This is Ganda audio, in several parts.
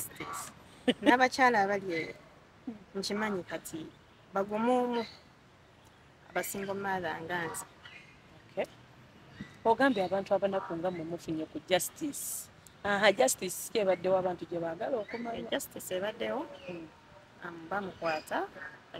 siteesi n'abakyala abali eyo nkimanyi kati bagumu omu abasingo maatha nga nze ogambye abantu abanaku nga mwe mufunye ku justice aha justice ki ebaddewo abantu gye baagala okumanya eh, justice ebaddewo hmm. um, bamukwata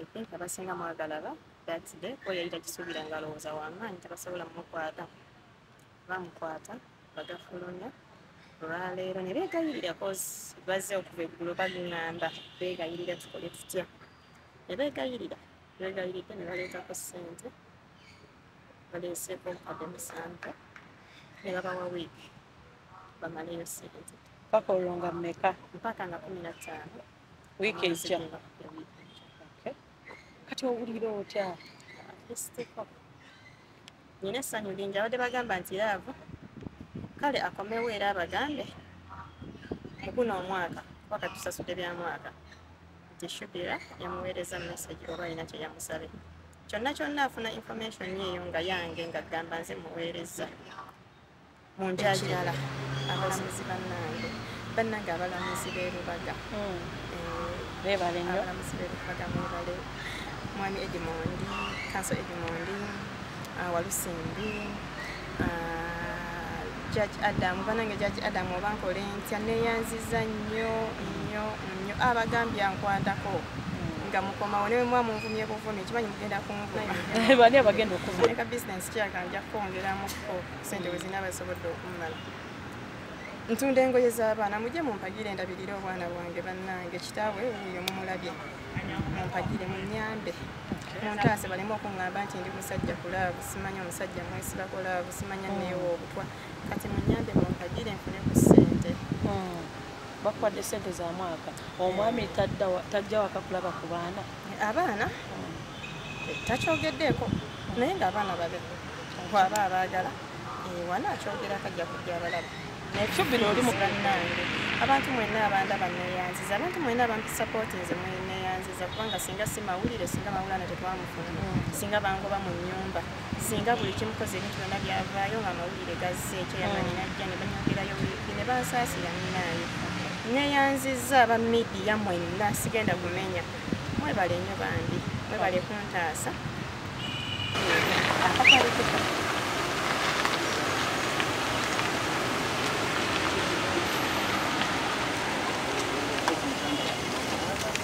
i think abasinga mwagalaba that day oyayita kisuubira nga alowooza wamaanyi tabasobola mumukwata bamukwata bagafulumya olwaleero ne beegayirira kozi bazze okuva eggulo bagŋŋamba beegayirira tukole tutya ne beegayirira beegayiridde ne baleetako ssente baleeseeko obukadde musanvu ne babawa wiiki bamaleyo ssente mpaka olwo nga mmeka mpaka nga kumi na ttaano wiiki ejja kati owulira otya nina essanyu lingi abadde bagamba nti laavu kale akomewo era abagambe muguno omwaka kuba katusasudde bya mwaka nti shubira yamuweereza message oba alina kye yamusabe kyonna kyonna afuna information eyo nga yange nga gamba nze muweereza ekirala abalamuzi bannange bannange abalamuzi b'e lubaga hmm. eh, abalamuzi b'e lubaga mwebale mwami edimondi kanso edimondi ah, walusimbi ah, jaji adamu banange jaji adamu oba nkola entya neyanziza nnyo nnyo nnyo abagambye ankwatako nga mukomawo newe mwa munvumye buvumi ekimanyi mugenda kunvuma bani abagenda okuvuma eka bisinesi kyagambya kwongeramuko sente we zinaaba zisobodde okummala ntunda engoye z'abaana mujje mumpagire endabirire obwana bwange bannange kitaawe wuuyo mumulabye mumpagire munyambe muntaase baleme okuŋŋamba nti ndi musajja ku laavu simanya omusajja mwesiba ku laavu simanya mm. neewa obutwa kati munyambe mumpagire nfune ku ssente mm. bakwadde ssente za mwaka omwami tajja wakakulaba ku baana abaana takyogeddeeko naye ngaabaana babe gwaba abaagala wana akyogera kajja kujja abalaba naye kyubino oli mugannange abantu mwena abanda baneyanziza abantu mwena abantu sapoti nze mweneyanziza kubanga singa si mawulire singa mawulana tetwamufuna singa bangoba mu nyumba singa buli kimu koze ebintu byonna byavaayo nga amawulire gazze ekyo yamanyi mm. najja ne banyogerayo wiiki ne bansaasira munaayo neyanzizza aba midiya mwenna sigenda kumenya mwebale nnyo bambi mwebale kuntaasa